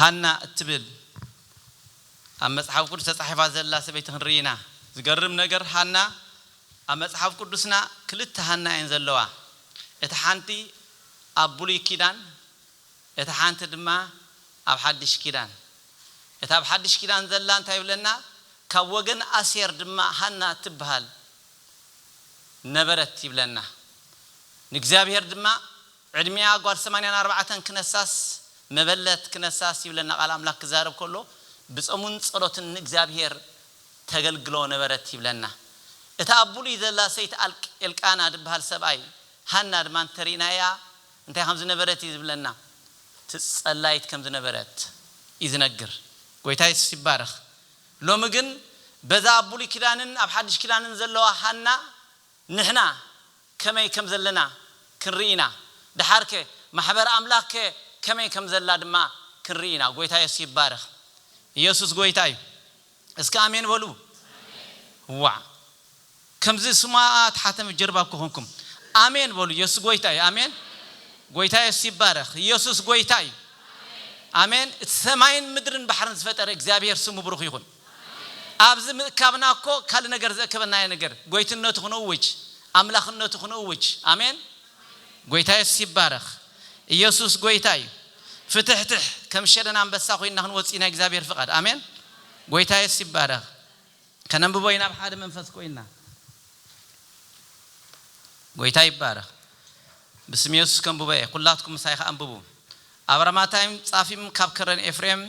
ሃና እትብል ኣብ መጽሓፍ ቅዱስ ተጻሒፋ ዘላ ሰበይቲ ክንርኢ ኢና። ዝገርም ነገር ሃና ኣብ መጽሓፍ ቅዱስና ክልተ ሃና እየን ዘለዋ። እታ ሓንቲ ኣብ ብሉይ ኪዳን እታ ሓንቲ ድማ ኣብ ሓድሽ ኪዳን። እታ ኣብ ሓድሽ ኪዳን ዘላ እንታይ ይብለና ካብ ወገን ኣሴር ድማ ሃና እትብሃል ነበረት ይብለና ንእግዚኣብሔር ድማ ዕድሜኣ ጓል ሰማንያን ኣርባዕተን ክነሳስ መበለት ክነሳስ ይብለና ቃል ኣምላክ ክዛረብ ከሎ ብጸሙን ጸሎትን ንእግዚኣብሔር ተገልግሎ ነበረት ይብለና እታ ኣብ ብሉይ ዘላ ሰይቲ ኣልቅ ኤልቃና ድብሃል ሰብኣይ ሃና ድማ እንተሪእናያ እንታይ ከም ዝነበረት እዩ ዝብለና። እቲ ጸላይት ከም ዝነበረት እዩ ዝነግር። ጎይታ የሱስ ይባረኽ። ሎሚ ግን በዛ ኣብ ብሉይ ኪዳንን ኣብ ሓድሽ ኪዳንን ዘለዋ ሃና ንሕና ከመይ ከም ዘለና ክንርኢ ኢና። ደሓርከ ማሕበር ኣምላኽ ከ ከመይ ከም ዘላ ድማ ክንርኢ ኢና። ጎይታ የሱስ ይባረኽ። የሱስ ጎይታ እዩ። እስከ ኣሜን በሉ ዋእ ከምዚ ስማኣ ትሓተመ ጀርባ እኮ ኮንኩም ኣሜን በሉ የሱስ ጎይታ እዩ ኣሜን ጎይታ የሱስ ይባረክ የሱስ ጎይታ እዩ ኣሜን እቲ ሰማይን ምድርን ባሕርን ዝፈጠረ እግዚኣብሄር ስሙ ብሩክ ይኩን ኣብዚ ምእካብና እኮ ካልእ ነገር ዘእከበና ነገር ጎይትነቱ ክንእውጅ ኣምላክነቱ ክንእውጅ ኣሜን ጎይታ የሱስ ይባረኽ። ኢየሱስ ጎይታ እዩ። ፍትሕትሕ ከም ሸደን ኣንበሳ ኮይንና ክንወጽእ እዩ ናይ እግዚኣብሔር ፍቃድ። ኣሜን። ጎይታ የሱስ ይባረኽ። ከነንብቦ ኢና ብ ሓደ መንፈስ ኮይንና። ጎይታ ይባረኽ። ብስም የሱስ ከንብቦ እየ። ኩላትኩም ምሳይ ከኣ ኣንብቡ። ኣብራማታይም ጻፊም ካብ ከረን ኤፍሬም።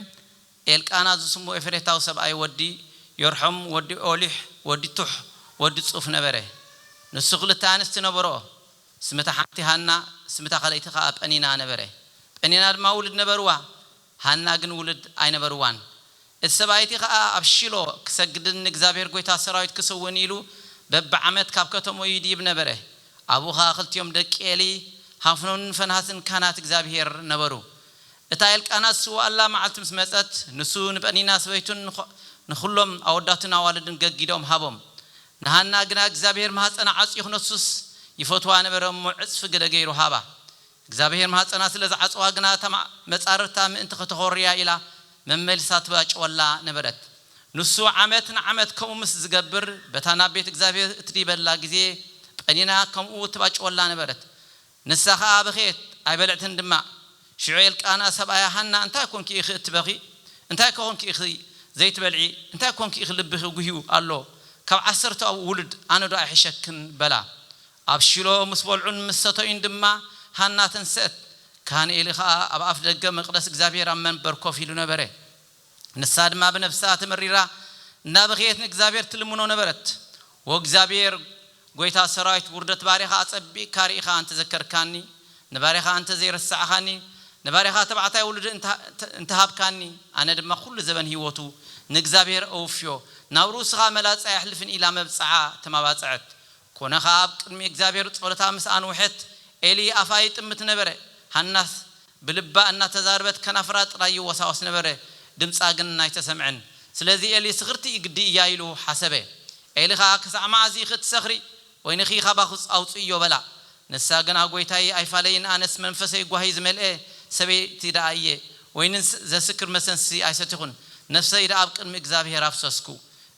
ኤልቃና ዝስሙ ኤፌሬታዊ ሰብኣይ ወዲ ዮርሖም ወዲ ኦሊሕ ወዲ ቱሕ ወዲ ጹፍ ነበረ። ንሱ ክልተ ኣንስቲ ነበርኦ፣ ስም'ታ ሓንቲ ሃና ስም'ታ ካልኣይቲ ከኣ ጰኒና ነበረ። ጰኒና ድማ ውሉድ ነበርዋ፣ ሃና ግን ውሉድ ኣይነበርዋን። እቲ ሰብኣይ'ቲ ከኣ ኣብ ሺሎ ክሰግድን ንእግዚኣብሄር ጐይታ ሰራዊት ክስውእን ኢሉ በብዓመት ካብ ከተምኡ ይድይብ ነበረ። ኣብኡ ከኣ ክልቲኦም ደቂ ኤሊ፣ ሀፍኖንን ፈንሃስን ካህናት እግዚኣብሄር ነበሩ። እታ ኤልቃና ዝስውኣላ መዓልቲ ምስ መጸት፣ ንሱ ንጰኒና ሰበይቱን ንኹሎም ኣወዳቱን ኣዋልድን ገጊዶም ሃቦም። ንሃና ግና እግዚኣብሄር ማህጸና ዓጽዩ ክነሱስ ይፈትዋ ነበረ እሞ ዕጽፊ ግደ ገይሩ ሃባ። እግዚኣብሄር ማህጸና ስለ ዝዓጸዋ ግና እታ መጻርርታ ምእንቲ ከተኾርያ ኢላ መመሊሳ ትባጭወላ ነበረት። ንሱ ዓመት ንዓመት ከምኡ ምስ ዝገብር በታ ናብ ቤት እግዚኣብሄር እትድይበላ ግዜ ጰኒና ከምኡ ትባጭወላ ነበረት። ንሳ ኸኣ በኸየት፣ ኣይበልዕትን ድማ። ሽዑ ኤልቃና ሰብኣያ፣ ሃና እንታይ ኰንኪ ኢኺ እትበኺ? እንታይ ኰንኪ ኢኺ ዘይትበልዒ? እንታይ ኰንኪ ኢኺ ልብኺ ጕህዩ ኣሎ? ካብ ዓሰርተ ኣቡኡ ውሉድ ኣነዶ ኣይሕሸክን? በላ። ኣብ ሺሎ ምስ በልዑን ምስ ሰተዩን ድማ ሃና ተንስአት፣ ካህን ኤሊ ኸኣ ኣብ ኣፍደገ መቕደስ እግዚኣብሄር ኣብ መንበር ኮፍ ኢሉ ነበረ። ንሳ ድማ ብነፍሳ ተመሪራ እንዳ በከየት ንእግዚኣብሔር ትልምኖ ነበረት። ወእግዚኣብሔር ጐይታ ሠራዊት ውርደት ባሪያኻ ኣጸቢቅካ ርኢኻ እንተ ዘከርካኒ፣ ንባሪያኻ እንተ ዘይረሳዕኻኒ፣ ንባሪያኻ ተባዕታይ ውሉድ እንተ ሃብካኒ፣ ኣነ ድማ ኵሉ ዘበን ሕይወቱ ንእግዚኣብሔር እውፍዮ፣ ናብ ርእሱኻ መላጻ ኣየሕልፍን ኢላ መብጽዓ ተማባጽዐት። ኰነ ኸኣ ኣብ ቅድሚ እግዚኣብሄር ጸሎታ ምስ ኣንውሐት፣ ኤሊ ኣፋ ይጥምት ነበረ። ሃናስ ብልባ እናተዛረበት ከናፍራ ጥራይ ይወሳወስ ነበረ፣ ድምጻ ግን ኣይተሰምዐን። ስለዚ ኤሊ ስኽርቲ ግዲ እያ ኢሉ ሓሰበ። ኤሊ ኸኣ ክሳዕ መዓዝ ኢኺ እትሰኽሪ? ወይንኺ ካባኺ ኣውጽእዮ በላ። ንሳ ግና ጐይታይ ኣይፋለይን ኣነስ መንፈሰይ ጓሂ ዝመልአ ሰበይቲ ደኣ እየ፣ ወይኒ ዘስክር መሰንስቲ ኣይሰተኹን፣ ነፍሰይ ደኣ ኣብ ቅድሚ እግዚኣብሄር ኣፍሰስኩ፣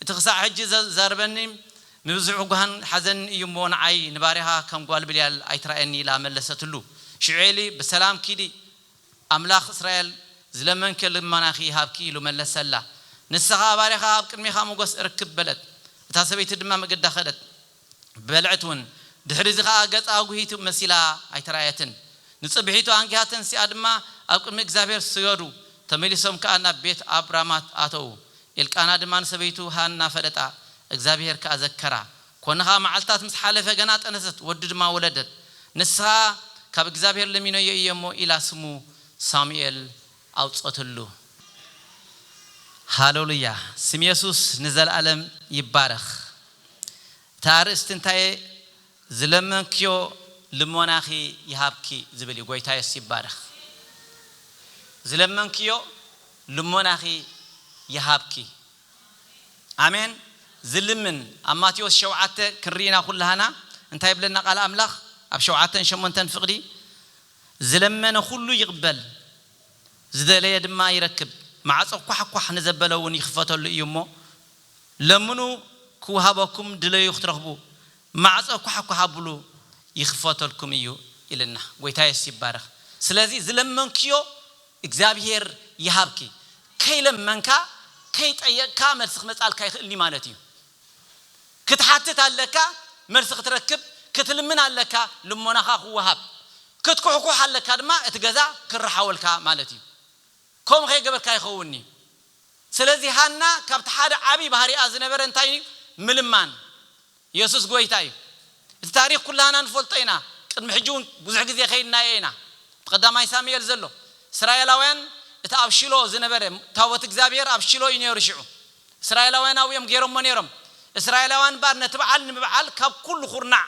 እቲ ክሳዕ ሕጂ ዘዛርበኒ ንብዝሑ ጓህን ሓዘንን እዩ እሞ ንዓይ ንባርያኻ ከም ጓል ብልያል ኣይትርኣየኒ ኢላ መለሰትሉ። ሽዑ ኤሊ ብሰላም ኪዲ ኣምላኽ እስራኤል ዝለመንክዮ ልማናኺ ይሃብኪ ኢሉ መለሰላ። ንሳ ኸኣ ባርያኻ ኣብ ቅድሜኻ ሞገስ እረክብ በለት። እታ ሰበይቲ ድማ መገዳ ከደት። በልዐት እውን። ድሕሪዚ ኸኣ ገጻ ኣጕሂቱ መሲላ ኣይተርኣየትን። ንጽብሒቱ ኣንጊሃ ተንሲኣ ድማ ኣብ ቅድሚ እግዚኣብሄር ሰገዱ። ተመሊሶም ከኣ ናብ ቤት ኣብ ራማት ኣተዉ። ኤልቃና ድማ ንሰበይቱ ሃና ፈለጣ፣ እግዚኣብሄር ከኣ ዘከራ። ኰነ ኸኣ መዓልትታት ምስ ሓለፈ ገና ጠነሰት፣ ወዲ ድማ ወለደት። ንሳ፣ ካብ እግዚኣብሄር ለሚነዮ እየ እሞ ኢላ ስሙ ሳሙኤል ኣውጽኦትሉ። ሃለሉያ! ስም የሱስ ንዘለኣለም ይባረኽ። እቲ ኣርእስቲ እንታይ ዝለመንክዮ ልሞናኺ ይሃብኪ ዝብል እዩ ጎይታ የሱስ ይባረኽ። ዝለመንክዮ ልሞናኺ ይሃብኪ ኣሜን ዝልምን ኣብ ማቴዎስ ሸውዓተ ክንሪኢ ኢና ኩላህና እንታይ ይብለና ቃል ኣምላኽ ኣብ ሸውዓተን ሸሞንተን ፍቅዲ ዝለመነ ኩሉ ይቅበል ዝደለየ ድማ ይረክብ ማዕጾ ኳሕኳሕ ንዘበለ እውን ይክፈተሉ እዩ እሞ ለምኑ ክወሃበኩም ድለዩ ክትረኽቡ ማዕጾ ኳሕኳሕ ኣብሉ ይኽፈተልኩም እዩ ኢልና ጎይታ የሱስ ይባረኽ ስለዚ ዝለመንክዮ እግዚኣብሄር ይሃብኪ ከይለመንካ ከይጠየቅካ መልሲ ክመጻልካ ይኽእል እዩ ማለት እዩ ክትሓትት ኣለካ መልሲ ክትረክብ ክትልምን ኣለካ ልሞናኻ ክወሃብ ክትኩሕኩሕ ኣለካ ድማ እቲ ገዛ ክራሓወልካ ማለት እዩ ከምኡ ከይገበርካ ይኸውን እዩ ስለዚ ሃና ካብቲ ሓደ ዓቢ ባህሪኣ ዝነበረ እንታይ እዩ ምልማን የሱስ ጎይታ እዩ እቲ ታሪኽ ኩላህና ንፈልጦ ኢና ቅድሚ ሕጂ ውን ብዙሕ ግዜ ከይድናዮ ኢና ኣብ ቐዳማይ ሳሚኤል ዘሎ እስራኤላውያን እቲ ኣብ ሽሎ ዝነበረ ታቦት እግዚኣብሄር ኣብ ሽሎ እዩ ኔሩ ሽዑ እስራኤላውያን ኣብኡ እዮም ጌሮሞ ኔሮም እስራኤላውያን እምበኣር ነቲ በዓል ንምብዓል ካብ ኩሉ ኩርናዕ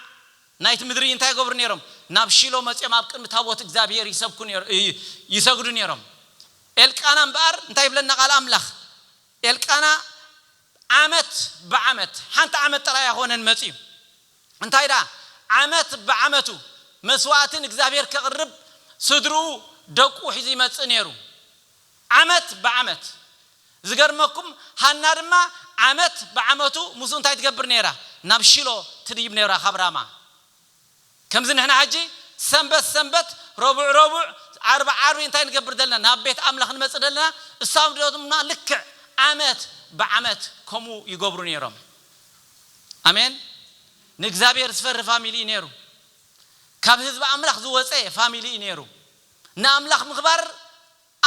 ናይቲ ምድሪ እንታይ ይገብሩ ኔሮም ናብ ሽሎ መጺኦም ኣብ ቅድሚ ታቦት እግዚኣብሄር ይሰብኩ ኔሮ ይሰግዱ ኔሮም ኤልቃና እምበኣር እንታይ ይብለና ቓል ኣምላኽ ኤልቃና ዓመት ብዓመት ሓንቲ ዓመት ጥራይ ኣይኾነን መጺኡ እንታይ ደኣ ዓመት ብዓመቱ መስዋእቲ ንእግዚኣብሄር ከቕርብ ስድርኡ ደቁ ሒዙ ይመጽእ ኔሩ ዓመት ብዓመት ዝገርመኩም ሃና ድማ ዓመት ብዓመቱ ምስኡ እንታይ ትገብር ኔራ ናብ ሺሎ ትድይብ ኔራ ካብ ራማ ከምዚ ንሕና ሕጂ ሰንበት ሰንበት ረቡዕ ረቡዕ ዓርቢ ዓርቢ እንታይ ንገብር ዘለና ናብ ቤት ኣምላኽ ንመጽእ ደለና እሳም ደማ ልክዕ ዓመት ብዓመት ከምኡ ይገብሩ ነሮም ኣሜን ንእግዚኣብሔር ዝፈሪ ፋሚሊ እዩ ነሩ ካብ ህዝቢ ኣምላኽ ዝወጸ ፋሚሊ እዩ ነሩ ንኣምላኽ ምኽባር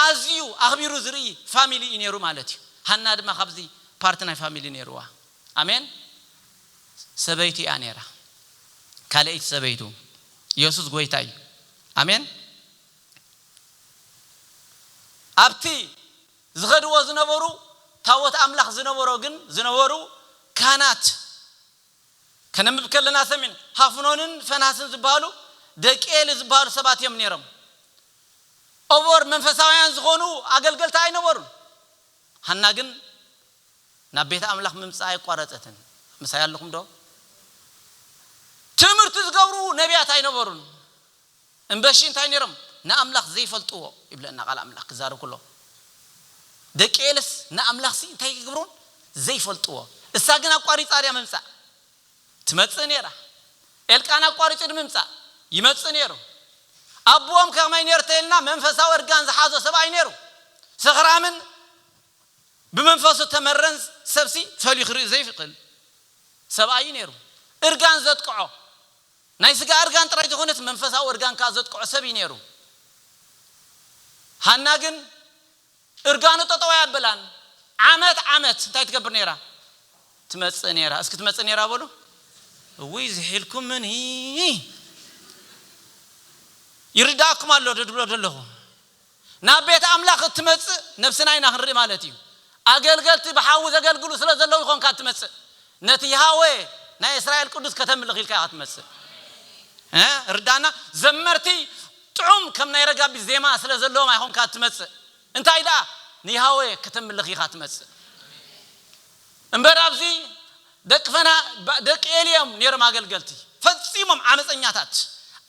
ኣዝዩ ኣኽቢሩ ዝርኢ ፋሚሊ እዩ ኔሩ ማለት እዩ ሃና ድማ ካብዚ ፓርቲ ናይ ፋሚሊ ኔርዋ ኣሜን ሰበይቱ እያ ኔራ ካለኣይቲ ሰበይቱ የሱስ ጎይታ እዩ ኣሜን ኣብቲ ዝኸድዎ ዝነበሩ ታቦት ኣምላኽ ዝነበሮ ግን ዝነበሩ ካህናት ከነንብብ ከለና ሰሚዕና ሃፍኖንን ፈናስን ዝብሃሉ ደቂ ኤሊ ዝብሃሉ ሰባት እዮም ኔሮም ኦቦር መንፈሳውያን ዝዀኑ ኣገልገልቲ ኣይነበሩን። ሃና ግን ናብ ቤት ኣምላኽ ምምጻእ ኣየቋረጸትን። ምሳይ ኣለኹምዶ? ትምህርቲ ዝገብሩ ነብያት ኣይነበሩን እምበሺ እንታይ ነይሮም? ንኣምላኽ ዘይፈልጥዎ ይብለና ቃል ኣምላኽ ክዛረብ ከሎ። ደቂ ኤልስ ንኣምላኽሲ እንታይ ኣይገብሩን? ዘይፈልጥዎ። እሳ ግን ኣቋሪጻ ድያ ምምጻእ? ትመጽእ ነይራ። ኤልቃና ኣቋሪጹ ንምምጻእ ይመጽእ ነይሩ። ኣቡኦም ከመይ ነይሩ ተይልና መንፈሳዊ እርጋን ዝሓዞ ሰብ ኣይነይሩ። ሰኽራምን ብመንፈሱ እተመረን ሰብሲ ፈልዩ ክርኢ ዘይክእል ሰብኣይ እዩ ነይሩ። እርጋን ዘጥቅዖ ናይ ስጋ እርጋን ጥራይ ዘይኮነስ መንፈሳዊ እርጋን ከኣ ዘጥቅዖ ሰብ እዩ ነይሩ። ሃና ግን እርጋኑ ጠጠው ኣያብላን ዓመት ዓመት እንታይ ትገብር ነይራ ትመጽእ ነይራ እስኪ ትመጽእ ነይራ በሉ እውይ ዝሒልኩምኒ ይርድኣኩም ኣሎ ዶ ድብሎ ደለኹ ናብ ቤት ኣምላኽ እትመጽእ ነብስና ኢና ክንርኢ ማለት እዩ ኣገልገልቲ ብሓዊ ዘገልግሉ ስለ ዘለዉ ኢኾንካ እትመጽእ ነቲ ይሃወ ናይ እስራኤል ቅዱስ ከተምልኽ ኢልካ ኢኻ ትመጽእ ርዳና ዘመርቲ ጥዑም ከም ናይ ረጋቢት ዜማ ስለ ዘለዎም ኣይኮንካ እትመጽእ፣ እንታይ ደኣ ንያህዌ ከተምልኽ ኢኻ እትመጽእ እምበር። ኣብዚ ደቂ ፈና ደቂ ኤሊ እዮም ነይሮም፣ ኣገልገልቲ ፈጺሞም ዓመጸኛታት፣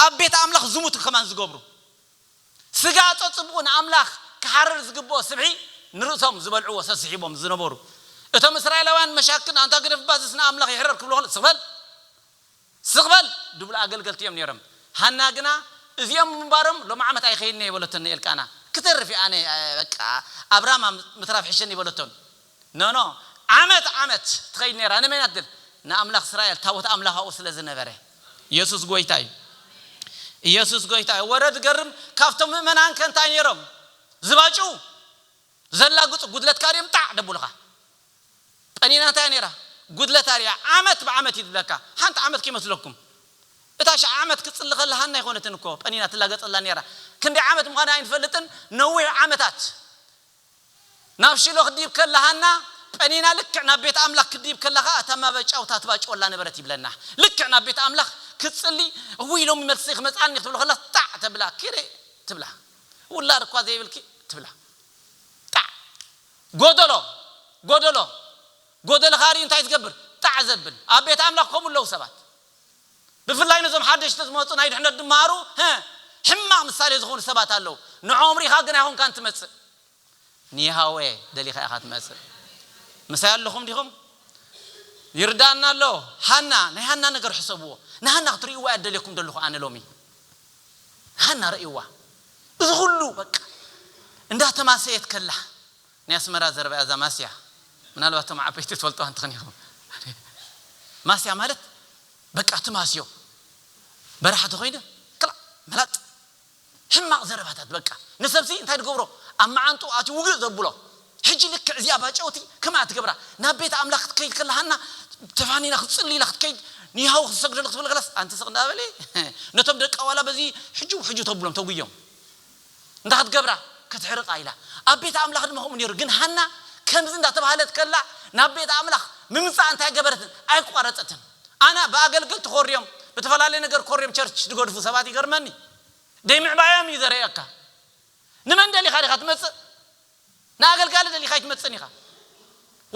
ኣብ ቤት ኣምላኽ ዝሙት ከማን ዝገብሩ፣ ስጋ ጸጽብቑ ንኣምላኽ ክሓርር ዝግብኦ ስብሒ ንርእሶም ዝበልዕዎ ሰስሒቦም ዝነበሩ፣ እቶም እስራኤላውያን መሻክን ኣንታ ግደፍባ ዝስ ንኣምላኽ ይሕረር ክብሉ ከለዉ ስቕ በል ስቕ በል! ድብሉ ኣገልገልቲ እዮም ነይሮም። ሃና ግና እዚኦም ብምንባሮም ሎሚ ዓመት ኣይኸይድን እየ በለቶ ንኤልቃና። ክተርፍ እየ ኣነ በቃ ኣብ ራማ ምትራፍ ይሕሸኒ በለቶ። ኖኖ ዓመት ዓመት ትኸይድ ነይራ ንመን እያ ትብል ንኣምላኽ እስራኤል ታቦት ኣምላኽ ኣብኡ ስለ ዝነበረ። ኢየሱስ ጎይታ እዩ! ኢየሱስ ጎይታ እዩ! ወረ ዝገርም ካብቶም ምእመናን ከ እንታይ ነይሮም ዝባጭዉ ዘላግጹ ጉድለትካ ድዮም ጣዕ ደብሉኻ ጠኒና እንታይ ነይራ ጉድለት ኣርእያ ዓመት ብዓመት እዩ ዝብለካ ሓንቲ ዓመት ከይመስለኩም እታ ሽዓ ዓመት ክትጽሊ ከላ ሃና ኣይኮነትን እኮ ጠኒና ትላገጸላ ነይራ ክንደይ ዓመት ምዃና ኣይንፈልጥን ነዊሕ ዓመታት ናብ ሽሎ ክትድይብ ከላ ሃና ጠኒና ልክዕ ናብ ቤት ኣምላኽ ክትድይብ ከላ ከኣ እታ ማበጫውታ ትባጭወላ ነበረት ይብለና ልክዕ ናብ ቤት ኣምላኽ ክትጽሊ እውይ ሎሚ መልሲ ክመጽኣኒ ክትብሎ ከላ ጣዕ ተብላ ኪሪ ትብላ ውላድ እኳ ዘይብልኪ ትብላ ጣዕ ጎደሎ ጎደሎ ጎደልኻ ሪኡ እንታይ ትገብር ጣዕ ዘብል ኣብ ቤት ኣምላኽ ከምኡ ኣለዉ ሰባት ብፍላይ ነዞም ሓደሽቲ ዝመጹ ናይ ድሕነት ድማሩ ህእ ሕማቅ ምሳሌ ዝኾኑ ሰባት ኣለዉ ንዖኦም ሪኢኻ ግን ኣይኾንካን ትመጽእ ንየሃዌ ደሊኻ ኢኻ ትመጽእ ምሳይ ኣለኹም ዲኹም ይርዳኣና ኣሎ ሃና ናይ ሃና ነገር ሕሰብዎ ንሃና ክትሪእዋ እያ ደልየኩም ደለኹ ኣነ ሎሚ። ሃና ርእይዋ እዚ ኩሉ በቃ እንዳ ተማሰየት ከላ ናይ ኣስመራ ዘረባ እያ እዛ ማስያ ምናልባት እቶም ዓበይቲ ትፈልጥዋ እንትኽን ኢኹም ማስያ ማለት በቃ ትማስዮ በራሒ ተኾይነ ክላእ መላጥ ሕማቕ ዘረባታት በቃ ንሰብሲ እንታይ ድገብሮ ኣብ መዓንጥኡ ኣትዩ ውግእ ዘብሎ ሕጂ ልክዕ እዚኣ ባጨውቲ ከምኣ ትገብራ ናብ ቤት ኣምላኽ ክትከይድ ከላ ሃና ተፋኒና ክትጽሊ ኢላ ክትከይድ ንያሃው ክትሰግደሉ ክትብል ከላስ ኣንቲ ስቕ እንዳ በሊ ነቶም ደቃ ዋላ በዚ ሕጁብ ሕጁብ ተብሎም ተጉዮም እንታይ ክትገብራ ክትሕርቓ ኢላ ኣብ ቤት ኣምላኽ ድማ ከምኡ ኔሩ ግን ሃና ከምዚ እንዳ ተባህለት ከላ ናብ ቤት ኣምላኽ ምምጻኣ እንታይ ገበረትን ኣይቋረጸትን ኣና ብኣገልገልቲ ኮርዮም ብተፈላለየ ነገር ኮርዮም ቸርች ድገድፉ ሰባት ይገርመኒ ደይ ምዕባዮም እዩ ዘርእየካ ንመን ደሊኻ ዲኻ ትመጽእ ንኣገልጋሊ ደሊኻ ኣይትመጽእን ኢኻ፣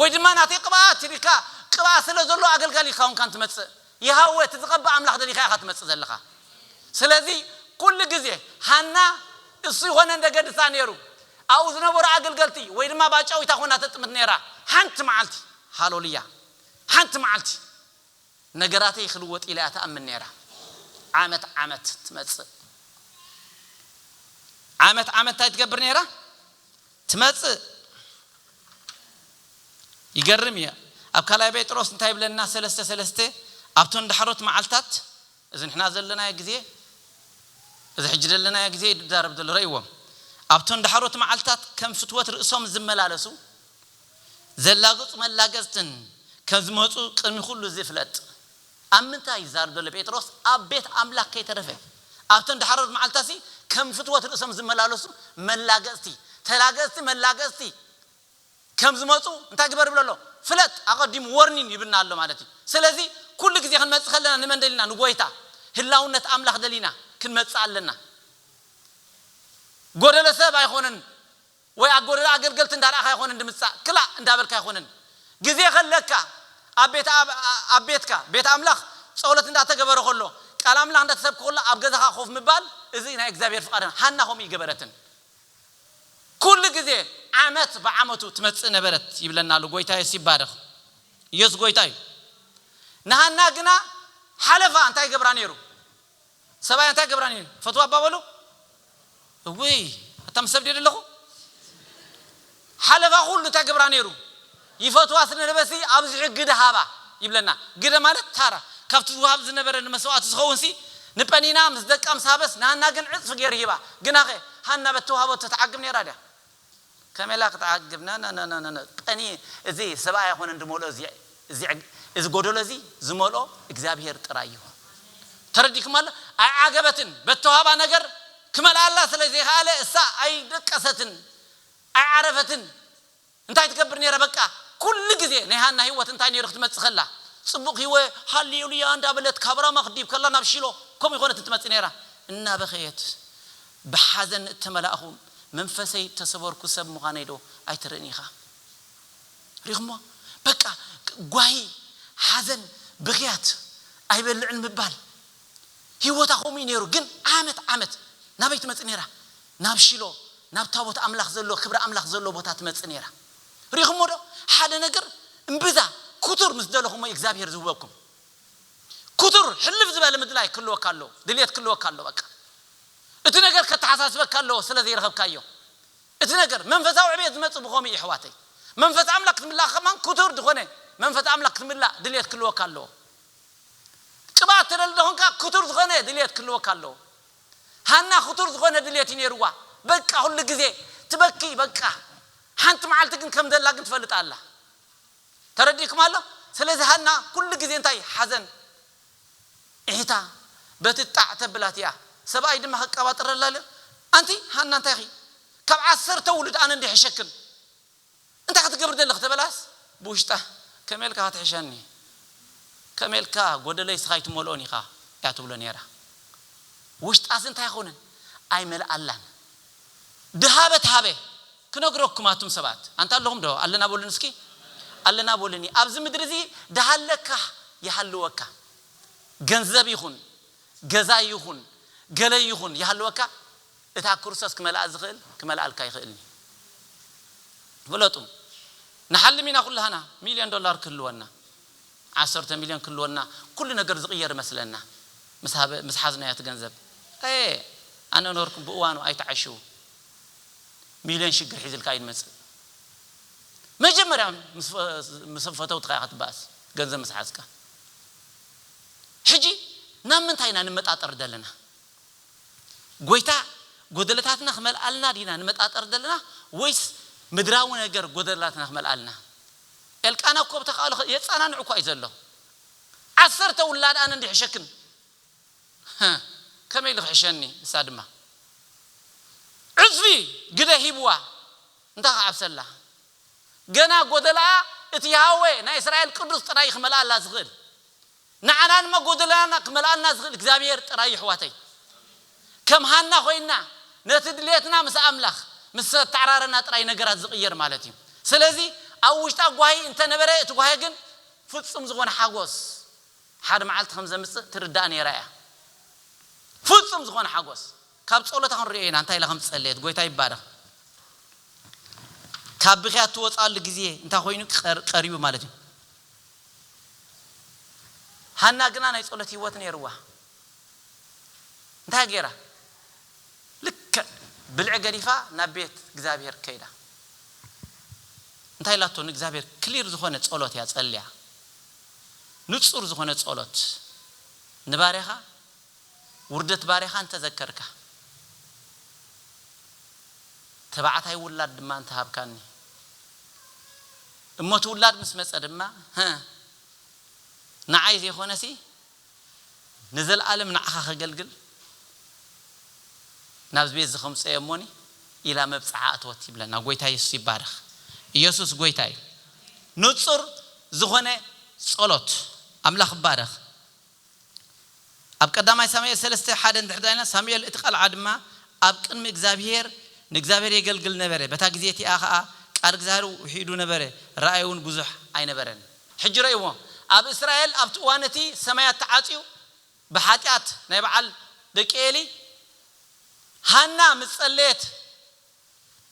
ወይ ድማ ናተይ ቅብኣት ኢልካ ቅብኣት ስለ ዘሎ ኣገልጋሊ ኢልካ ኰንካን ትመጽእ። የሆዋ እቲ ዝቐብእ ኣምላኽ ደሊኻ ኢኻ ትመጽእ ዘለኻ። ስለዚ፣ ኵሉ ግዜ ሃና እሱ ይዀነ እንደ ገድሳ ነይሩ፣ ኣብኡ ዝነበሩ ኣገልገልቲ ወይ ድማ ባጫዊታ ኰና ተጥምት ነይራ። ሓንቲ መዓልቲ፣ ሃሎሉያ፣ ሓንቲ መዓልቲ! ነገራተይ ክልወጥ ኢላ እያ ትኣምን ነይራ። ዓመት ዓመት ትመጽእ። ዓመት ዓመት እንታይ ትገብር ነይራ? ትመጽእ። ይገርም እዩ። ኣብ ካልኣይ ጴጥሮስ እንታይ ይብለና? ሰለስተ ሰለስተ ኣብቶን ዳሕሮት መዓልታት እዚ ንሕና ዘለናዮ ግዜ እዚ ሕጂ ዘለናዮ ግዜ ይዛረብ ዘሎ ረእይዎም ኣብቶን ዳሕሮት መዓልታት ከም ፍትወት ርእሶም ዝመላለሱ ዘላግጹ መላገጽትን ከም ዝመጹ ቅድሚ ኩሉ እዚ ፍለጥ። ኣብ ምንታይ ይዛረብ ዘሎ ጴጥሮስ ኣብ ቤት ኣምላኽ ከይተረፈ ኣብተን ዳሕሮት መዓልትታትሲ ከም ፍትወት ርእሶም ዝመላለሱ መላገጽቲ ተላገጽቲ መላገጽቲ ከም ዝመጹ እንታይ ግበር ይብሎ ኣሎ ፍለጥ ኣቀዲሙ ወርኒን ይብና ኣሎ ማለት እዩ ስለዚ ኩሉ ግዜ ክንመጽእ ከለና ንመን ደሊና ንጎይታ ህላውነት ኣምላኽ ደሊና ክንመጽእ ኣለና ጎደሎ ሰብ ኣይኮነን ወይ ኣብ ጎደና ኣገልገልቲ እንዳረኣኻ ኣይኾንን ድምጻእ ክላእ እንዳበልካ ኣይኾንን ግዜ ከለካ ኣብ ቤት ኣብ ቤትካ ቤት ኣምላኽ ጸሎት እንዳተገበረ ከሎ ቃል ኣምላኽ እንዳተሰብከ ከሎ ኣብ ገዛኻ ኮፍ ምባል እዚ ናይ እግዚኣብሔር ፍቃድ ሃና ከምኡ እይገበረትን ኩሉ ግዜ ዓመት ብዓመቱ ትመጽእ ነበረት ይብለና ኣሎ ጎይታ የሱስ ይባረኽ ኢየሱስ ጎይታ እዩ ንሃና ግና ሓለፋ እንታይ ይገብራ ነይሩ ሰብኣይ ኣንታይ ክገብራኒ እየ ትፈትዋ እባ በሉ እውይ ኣታ ምስ ሰብ ድየ ደለኹ ሓለፋ ኩሉ እንታይ ክገብራ ነይሩ ይፈትዋ ስለ ዝነበረሲ ኣብዚሑ ግደ ሃባ ይብለና ግደ ማለት ታራ ካብቲ ዝወሃብ ዝነበረ ንመስዋእቲ ዝኸውንሲ ንጰኒና ምስ ደቃ ምስ ሃበስ ንሃና ግን ዕጽፊ ገይሩ ሂባ ግናኸ ሃና በቲ ተዋህበቶ ትዓግብ ነይራ ድያ ከመይ እላ ክትዓግብ ነነነነነ ቀንዪ እዚ ሰብኣይ ኣይኮነን ድመልኦ እዚ እዚ ጎደሎ እዚ ዝመልኦ እግዚኣብሄር ጥራይ እዩ ተረዲክማ ዶ ኣይዓገበትን በተዋህባ ነገር ክመልኣላ ስለ ዘይከኣለ እሳ ኣይደቀሰትን ኣይዓረፈትን እንታይ ትገብር ነይራ በቃ ኩሉ ግዜ ናይ ሃና ሂወት እንታይ ነይሩ ክትመጽእ ከላ ጽቡቅ ሂወ ሃሌሉያ እንዳበለት ካብ ራማ ክትድይብ ከላ ናብ ሺሎ ከምኡ ኣይኮነትን ትመጽእ ነይራ እናበኸየት ብሓዘን እተመላእኹ መንፈሰይ እተሰበርኩ ሰብ ምዃነይዶ ኣይትርእን ኢኻ? ርኢኹሞ? በቃ ጓሂ፣ ሓዘን፣ ብኽያት፣ ኣይበልዕን ምባል። ህይወታ ከምኡ እዩ ነይሩ። ግን ዓመት ዓመት ናበይ ትመጽእ ነይራ? ናብ ሺሎ፣ ናብ ታቦት ኣምላኽ ዘለዎ፣ ክብሪ ኣምላኽ ዘለዎ ቦታ ትመጽእ ነይራ። ርኢኹሞዶ? ሓደ ነገር እምብዛ ክቱር ምስ ደለኹሞ እዩ እግዚኣብሄር ዝህበኩም። ክቱር ሕልፍ ዝበለ ምድላይ ክህልወካ ኣለዎ ድልየት ክህልወካ ኣለዎ በቃ እቲ ነገር ከተሓሳስበካ ኣለዎ ስለ ዘይረኸብካዮ እቲ ነገር መንፈሳዊ ዕብየት ዝመጽእ ብኸምኡ እዩ ኣሕዋተይ መንፈስ ኣምላኽ ክትምላእ ከማን ክቱር ዝኾነ መንፈስ ኣምላኽ ክትምላእ ድልየት ክህልወካ ኣለዎ ቅብኣት ትደሊ ደኾንካ ክቱር ዝኾነ ድልየት ክህልወካ ኣለዎ ሃና ክቱር ዝኾነ ድልየት እዩ ነይርዋ በቃ ኩሉ ግዜ ትበኪ በቃ ሓንቲ መዓልቲ ግን ከም ዘላ ግን ትፈልጥ ኣላ ተረዲእክም ኣሎ ስለዚ ሃና ኩሉ ግዜ እንታይ ሓዘን ዒሒታ በቲ ጣዕ ተብላ እቲኣ ሰባኣይ ድማ ክቃባጥረላ ኣሎ ኣንቲ ሃና እንታይ ኢኺ ካብ ዓሰርተ ውሉድ ኣነ እንዶ ይሕሸክን እንታይ ክትገብሪ ደለኺ ተበላስ ብውሽጣ ከመይ ኢልካ ክትሕሸኒ ከመይ ኢልካ ጎደለይ እስኻ ኣይትመልኦን ኢኻ እያ ትብሎ ኔራ ውሽጣስ እንታይ ይኸውንን ኣይመልኣላን። ድሃበ ተሃበ ክነግረኩም ኣቱም ሰባት ኣንታ ኣለኹም ዶ ኣለና በሉኒ እስኪ ኣለና በሉኒ ኣብዚ ምድሪ እዚ ድሃለካ ይሃልወካ ገንዘብ ይኹን ገዛ ይኹን ገለ ይኹን ይሃልወካ እታ ክርሶስ ክመልኣ ዝኽእል ክመልኣልካ ኣይኽእልንዩ ፍለጡ ንሓልም ኢና ኩላህና ሚልዮን ዶላር ክህልወና ዓሰርተ ሚልዮን ክህልወና ኩሉ ነገር ዝቕየር እመስለና ምስ ሓዝናዮ እቲ ገንዘብ ኣየ ኣነ ነበርኩ ብእዋኑ ኣይትዓሽው ሚልዮን ሽግር ሒዝልካ እዩ ዝመጽእ መጀመርያ ምስ ፈተውትኻ ኢኻ ትበኣስ ገንዘብ ምስ ሓዝካ ሕጂ ናብ ምንታይ ኢና ንመጣጠር ዘለና ጎይታ ጎደለታትና ክመልኣልና ዲና ንመጣጠር ዘለና ወይስ ምድራዊ ነገር ጎደለታትና ክመልኣልና ኤልቃና እኮ ብተካእሎ የጻናንዕ እኳ እዩ ዘሎ ዓሰርተ ውላድ ኣነ እንድየ ሕሸክን ህህ ከመይ ኢሉ ክሕሸኒ ንሳ ድማ ዕጽፊ ግደ ሂብዋ እንታይ ክዓብሰላ ገና ጎደለኣ እቲ የሃዌ ናይ እስራኤል ቅዱስ ጥራይ እዩ ክመልኣላ ዝክእል ንዓና ንመጎደላና ክመልኣልና ዝኽእል እግዚኣብሔር ጥራይ እዩ ኣሕዋተይ ከም ሃና ኮይና ነቲ ድሌትና ምስ ኣምላኽ ምስ ዘተዓራረና ጥራይ ነገራት ዝቅየር ማለት እዩ ስለዚ ኣብ ውሽጣ ጓሂ እንተነበረ እቲ ጓሂ ግን ፍጹም ዝኾነ ሓጎስ ሓደ መዓልቲ ከም ዘምጽእ ትርዳእ ኔራ እያ ፍጹም ዝኾነ ሓጎስ ካብ ጸሎታ ክንሪኦ ኢና እንታይ ኢላ ከም ዝጸለየት ጎይታ ይባረኽ ካብ ብኽያት ትወጻሉ ግዜ እንታይ ኮይኑ ቀሪቡ ማለት እዩ ሃና ግና ናይ ጸሎት ሂወት ነይርዋ እንታይ ገይራ ልክዕ ብልዒ ገዲፋ ናብ ቤት እግዚኣብሄር ከይዳ እንታይ ኢላቶ ንእግዚኣብሄር ክሊር ዝኾነ ጸሎት እያ ጸልያ ንጹር ዝኾነ ጸሎት ንባርያኻ ውርደት ባርያኻ እንተ ዘከርካ፣ ተባዕታይ ውላድ ድማ እንተ ሃብካኒ፣ እሞ እቲ ውላድ ምስ መጸ ድማ፣ ህእ! ንዓይ ዘይኮነሲ፣ ንዘለኣለም ንዓኻ ኸገልግል፣ ናብዚ ቤት እዚ ኸምጽኦዮ እሞኒ፣ ኢላ መብጽዓ ኣተወት ይብለና። ጐይታ የሱስ ይባረኽ። ኢየሱስ ጐይታ እዩ። ንጹር ዝኾነ ጸሎት። ኣምላኽ ይባረኽ። ኣብ ቀዳማይ ሳሙኤል ሰለስተ ሓደ እንድሕር ዳኢልና ሳሙኤል እቲ ቐልዓ ድማ ኣብ ቅድሚ እግዚኣብሄር ንእግዚኣብሄር የገልግል ነበረ በታ ግዜ እቲኣ ኸኣ ቃል እግዚኣብሄር ውሒዱ ነበረ ራእይውን ብዙሕ ኣይነበረን። ሕጂ ረእይዎ ኣብ እስራኤል ኣብቲ እዋን እቲ ሰማያት ተዓጽዩ ብሓጢኣት ናይ በዓል ደቂ ኤሊ ሃና ምስ ጸለየት፣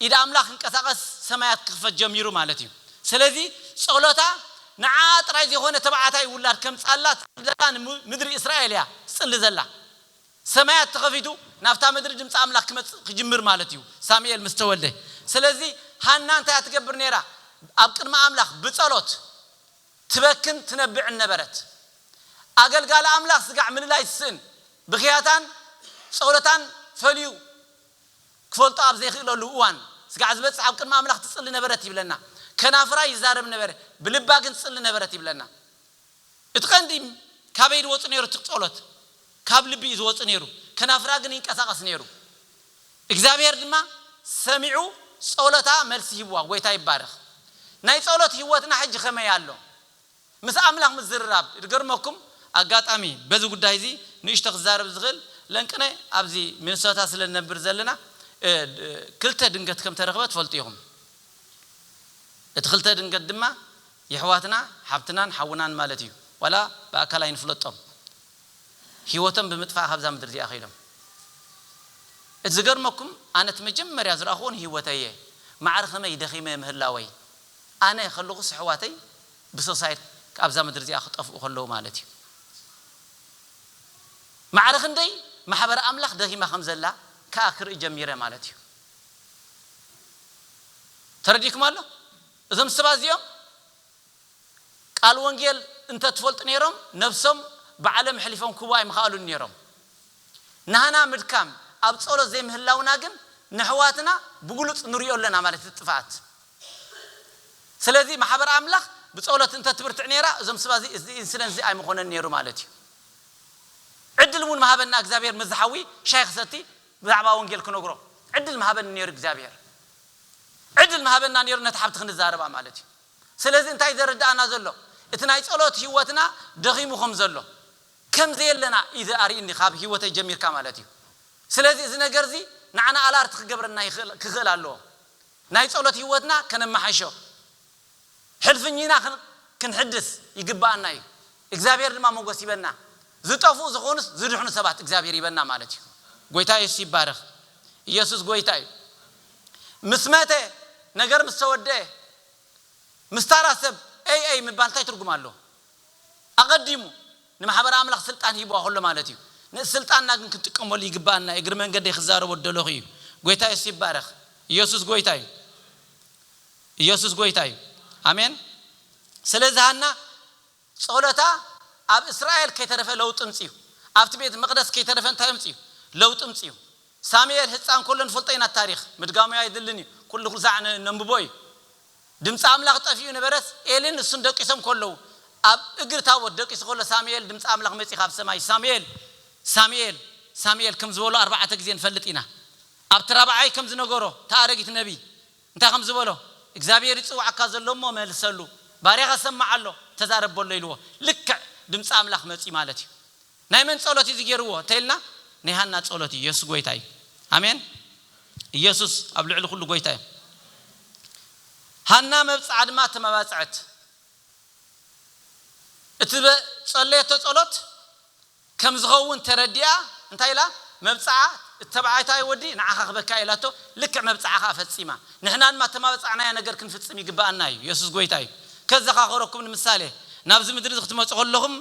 ኢድ ኣምላኽ ክንቀሳቀስ ሰማያት ክኽፈት ጀሚሩ ማለት እዩ ሰለዚ ጾሎታ ንዓኣ ጥራይ ዘይኮነ ተባዓታይ ውላድ ከምጻላ ትጽሊ ዘላ ን ምድሪ እስራኤል እያ ትጽሊ ዘላ ሰማያት ተኸፊቱ ናብታ ምድሪ ድምጺ ኣምላኽ ክመጽእ ክጅምር ማለት እዩ ሳሙኤል ምስ ተወልደ ሰለዚ ሃና እንታይ እያ ትገብር ነይራ ኣብ ቅድሚ ኣምላኽ ብጸሎት ትበክን ትነብዕን ነበረት ኣገልጋሊ ኣምላኽ ስጋዕ ምልላይ ትስእን ብኽያታን ጾሎታን ፈልዩ ክፈልጦ ኣብ ዘይክእለሉ እዋን፣ ስጋዕ ዝበጽሕ ኣብ ቅድሚ ኣምላኽ ትጽሊ ነበረት ይብለና። ከናፍራ ይዛረብ ነበረ፣ ብልባ ግን ትጽሊ ነበረት ይብለና። እቲ ቀንዲ ካበይ ድወጹ ነይሩ እቲ ጸሎት? ካብ ልቢ እዩ ዝወጽእ ነይሩ፣ ከናፍራ ግን ይንቀሳቐስ ነይሩ። እግዚኣብሄር ድማ ሰሚዑ ጸሎታ መልሲ ሂብዋ። ጎይታ ይባረኽ። ናይ ጸሎት ህይወትና ሕጂ ከመይ ኣሎ? ምስ ኣምላኽ ምዝርራብ ድገርመኩም ኣጋጣሚ በዚ ጉዳይ እዚ ንእሽቶ ክዛረብ ዝኽእል ለንቅነ ኣብዚ ሚንሶታ ስለ ንነብር ዘለና ክልተ ድንገት ከም ተረኽበ ትፈልጡ ኢኹም እቲ ክልተ ድንገት ድማ የሕዋትና ሓብትናን ሓውናን ማለት እዩ ዋላ ብኣካል ኣይንፍለጦም ሂወቶም ብምጥፋእ ካብዛ ምድሪ እዚኣ ከይዶም እቲ ዝገርመኩም ኣነ እቲ መጀመርያ ዝረኣኽዎ ንሂወተይ እየ ማዕረ ከመይ ደኺመ ምህላወይ ኣነ ከለኹስ ኣሕዋተይ ብሶሳይድ ካብዛ ምድሪ እዚኣ ክጠፍኡ ከለዉ ማለት እዩ። ማዕረ ክንደይ ማሕበረ ኣምላኽ ደኺማ ከም ዘላ ከኣ ክርኢ ጀሚረ ማለት እዩ። ተረዲእኩም ኣሎ? እዞም ሰባት እዚኦም ቃል ወንጌል እንተ ትፈልጡ ነይሮም ነብሶም ብዓለም ኣሕሊፎም ክህቡ ኣይምኸኣሉን ነይሮም። ናህና ምድካም ኣብ ጸሎት ዘይምህላውና ግን ነሕዋትና ብግሉጽ ንሪኦ ኣለና ማለት እቲ ጥፍኣት። ስለዚ ማሕበር ኣምላኽ ብጸሎት እንተ ትብርትዕ ኔራ እዞም ስባ እዚ እዚ ኢንስደንት እዚ ኣይምኾነን ኔሩ ማለት እዩ። ዕድል እውን ምሃበና እግዚኣብሄር ምስዚ ሓዊ ሻሂ ክሰቲ ብዛዕባ ወንጌል ክነግሮ ዕድል ምሃበኒ ኔሩ እግዚኣብሄር። ዕድል ምሃበና ኔሩ ነታ ሓብቲ ክንዛረባ ማለት እዩ። ስለዚ እንታይ እዩ ዘረድኣና ዘሎ እቲ ናይ ጸሎት ህይወትና ደኺሙ ከም ዘሎ ከም ዘየለና እዩ ኣርእይኒ ካብ ህይወተይ ጀሚርካ ማለት እዩ። ስለዚ እዚ ነገር እዚ ንዓና ኣላርት ክገብረና ይኽእል ክኽእል ኣለዎ። ናይ ጸሎት ህይወትና ከነመሓይሾ፣ ሕልፍኚና ክንሕድስ ይግበኣና እዩ። እግዚኣብሔር ድማ ሞገስ ይበና። ዝጠፍኡ ዝኾኑስ ዝድሕኑ ሰባት እግዚኣብሔር ይበና ማለት እዩ። ጎይታ የሱስ ይባረኽ። ኢየሱስ ጎይታ እዩ። ምስ መተ ነገር ምስ ተወደኤ ምስ ታራ ሰብ ኤይ ኤይ ምባል እንታይ ትርጉም ኣለዎ? ኣቐዲሙ ንማሕበረ ኣምላኽ ስልጣን ሂብዋ ከሎ ማለት እዩ። ነዚ ስልጣንና ግን ክንጥቀመሉ ይግብኣና እግሪ መንገደይ ክዛረቦ ዝደለኹ እዩ። ጎይታ የሱስ ይባረኽ። ኢየሱስ ጎይታ እዩ። ኢየሱስ ጎይታ እዩ። ኣሜን። ስለዚ ሃና ጸሎታ ኣብ እስራኤል ከይተረፈ ለውጢ ኣምጺኡ። ኣብቲ ቤት መቕደስ ከይተረፈ እንታይ ኣምጺኡ? ለውጢ ኣምጺኡ። ሳሙኤል ህጻን ከሎ ንፈልጦ ኢና እቲ ታሪኽ። ምድጋሙ ኣየድልን እዩ። ኩሉ ኩሉ ሳዕ ነንብቦ እዩ። ድምጺ ኣምላኽ ጠፊኡ ነበረስ፣ ኤልን ንሱን ደቂሶም ከለዉ፣ ኣብ እግሪ ታቦት ደቂሱ ከሎ ሳሙኤል ድምጺ ኣምላኽ መጺኡ ካብ ሰማይ ሳሙኤል! ሳሙኤል! ሳሙኤል! ከም ዝበሎ ኣርባዕተ ግዜ ንፈልጥ ኢና። ኣብቲ ራብዓይ ከም ዝነገሮ እቲ ኣረጊት ነብይ እንታይ ከም ዝበሎ እግዚኣብሄር ይጽውዓካ ዘሎ እሞ መልሰሉ፣ ባርያኻ ሰማዕ ኣሎ፣ ተዛረብ በሎ ኢልዎ። ልክዕ ድምጺ ኣምላኽ መጺኡ ማለት እዩ። ናይ መን ጸሎት እዩ እዚ ጌርዎ እንተኢልና ናይ ሃና ጸሎት እዩ የሱስ ጎይታ እዩ ኣሜን ኢየሱስ ኣብ ልዕሊ ኩሉ ጎይታ እዩ ሃና መብጽዓ ድማ ተመባጸዐት እቲ ዝጸለየቶ ጸሎት ከም ዝኸውን ተረዲኣ እንታይ ኢላ መብጽዓ እቲ ተባዓታይ ወዲ ንዓኻ ክበካ ኢላቶ ልክዕ መብጽዓ ከኣ ፈጺማ ንሕና ድማ እተማበጻዕናዮ ነገር ክንፍጽም ይግብኣና እዩ። የሱስ ጐይታ እዩ። ከዘኻኽረኩም ንምሳሌ፣ ናብዚ ምድሪ እዚ ክትመጹ ከለኹም፣